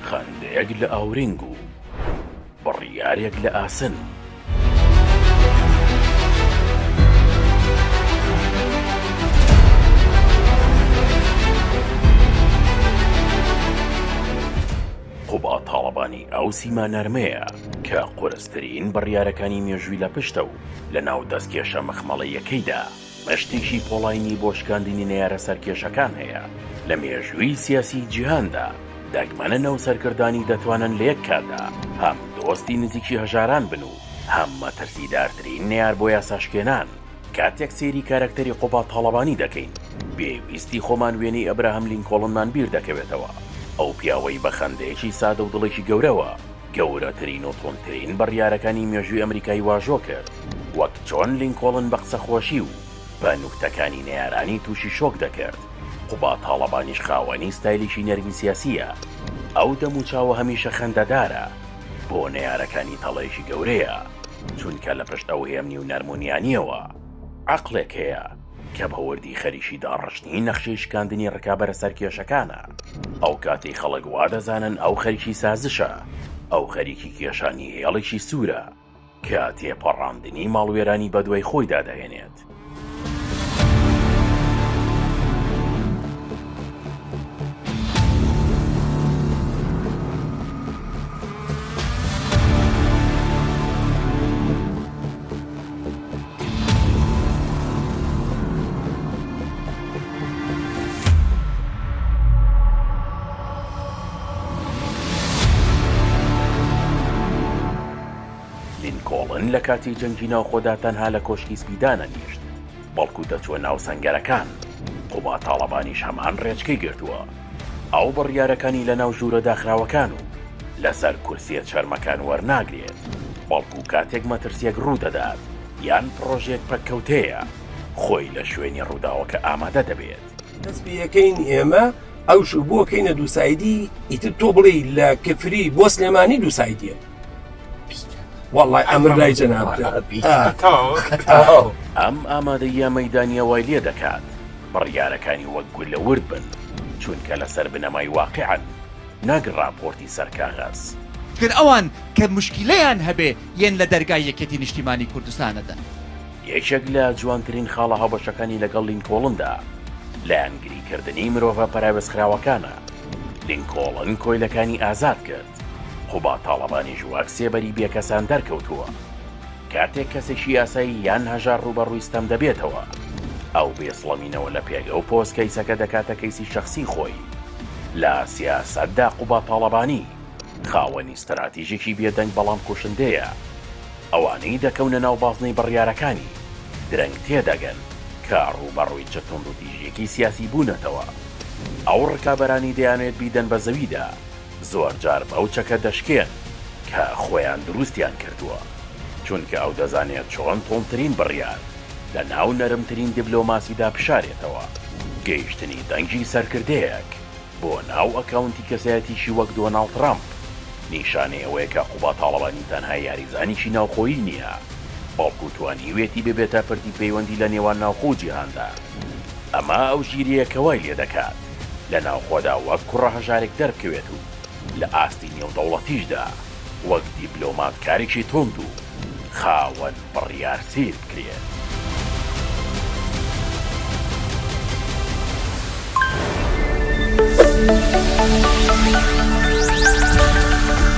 خەندەیەک لە ئاورینگ و بڕیارێک لە ئاسن. قوبا تاڵەبانی ئەو سیما نەرمەیە کە قورسترین بڕیارەکانی مێژووی لە پشتە و لە ناو دەستکێشە مەخمەڵەیەکەیدا. مشتێکی پۆڵاینی بۆ شکاندنی نەیارە سەرکێشەکان هەیە لە مێژووی سیاسیی جیهاندا، دەگمەنن ئەو سەرکردانەی دەتوانن لە یەک کاتدا هەم دۆستی نزیکی هەژاران بن و هەم مەترسیدارترین نەیار بۆ یاساشکێنان. کاتێک سەیری کارەکتەری قوباد تاڵەبانی دەکەین، بێ ویستی خۆمان وێنەی ئەبراهەم لینکۆڵنمان بیر دەکەوێتەوە، ئەو پیاوەی بە خەندەیەکی سادە و دڵێکی گەورەوە، گەورەترین و توندترین بڕیارەکانی مێژووی ئەمریکای واژۆ کرد، وەک چۆن لینکۆڵن بە قسەخۆشی و بە نوکتەکانی نەیارانی تووشی شۆک دەکرد، قوباد تاڵەبانیش خاوەنی ستایلێکی نەرمی سیاسییە، ئەو دەموچاوە هەمیشە خەندەدارە، بۆ نەیارەکانی تەڵەیەکی گەورەیە، چونکە لە پشت ئەو هێمنی و نەرمونیانییەوە عەقڵێک هەیە. کە بە وردی خەریکی داڕشتنی نەخشەی شکاندنی ڕکابەرە سەرکێشەکانە، ئەو کاتەی خەڵک وا دەزانن ئەو خەریکی سازشە، ئەو خەریکی کێشانی هێڵێکی سوورە کە تێپەڕاندنی ماڵوێرانی بەدوای خۆیدا دەهێنێت. لینکۆڵن لە کاتی جەنگی ناوخۆدا تەنها لە کۆشکی سپی دانەنیشت. بەڵکو دەچووە ناو سەنگەرەکان، قوباد تاڵەبانیش هەمان رێچکەی گرتووە، ئەو بڕیارەکانی لەناو ژوورە داخراوەکان و لەسەر کورسیە چەرمەکان وەرناگرێت، بەڵکو کاتێک مەترسیەک روودەدات یان پڕۆژەیەک پەککەوتەیە، خۆی لە شوێنی رووداوەکە ئامادە دەبێت. بەس پێیەکەین ئێمە ئەو شوو بۆ کەینە دووسایدی ئیتر تۆ بڵێی لە کفری بۆ سلێمانی دووسایدیە. وەڵی ئەمر لای جەناب ئەم ئامادەیە مەدانە وای لێ دەکات بڕیارەکانی وەک گول لە ورد بن چونکە لەسەر بنەمای واقعن ناگ راپۆرتی سەرکاغاز گەر ئەوان کە مشکیلەیان هەبێ یەن لە دەرگای یەکێتی نیشتیمانی کوردستانەدەن. یەکێک لە جوانترین خاڵە هاوبەشەکانی لەگەڵ لینکۆڵندا لایەنگری کردنی مرۆڤە پەراوێزخراوەکانە لینکۆڵن کۆیلەکانی ئازاد کرد دەکات. قوباد تاڵەبانیش وەک سێبەری بێکەسان دەرکەوتووە. کاتێک کەسێکی یاسایی یان هەژار ڕووبەڕووی ستەم دەبێتەوە، ئەو بێسڵەمینەوە لە پێگە و پۆست کەیسەکە دەکاتە کەیسی شەخسی خۆی. لە سیاسەتدا قوباد تاڵەبانی خاوەنی ستراتیژێکی بێدەنگ بەڵام کوشندەیە. ئەوانەی دەکەونە ناو بازنەی بڕیارەکانی، درەنگ تێدەگەن کە ڕووبەڕووی چ توندوتیژییەکی سیاسی بوونەتەوە. ئەو ڕکابەرانی دەیانەوێت بیدەن بە زەویدا. زۆر جار بەو چەکە دەشکێن کە خۆیان دروستیان کردووە، چونکە ئەو دەزانێت چۆن توندترین بڕیار لە ناو نەرمترین دیبلۆماسیدا بشارێتەوە، گەیشتنی دەنگی سەرکردەیەک بۆ ناو ئەکاونتی کەسایەتیی وەک دۆناڵد ترەمپ، نیشانەی ئەوەیە کە قوباد تاڵەبانی تەنها یاریزانێکی ناوخۆیی نییە، بەڵکو توانیوێتی ببێتە پردی پەیوەندی لە نێوان ناوخۆ و جیهاندا، ئەمە ئەو ژیرییە کە وای لێدەکات. لە ناوخۆدا وەک کوڕە هەژارێک دەربکەوێت و لە ئاستی نێودەوڵەتیشدا وەک دیبلۆماتکارێکی توند و خاوەن بڕیار سیر بکرێت.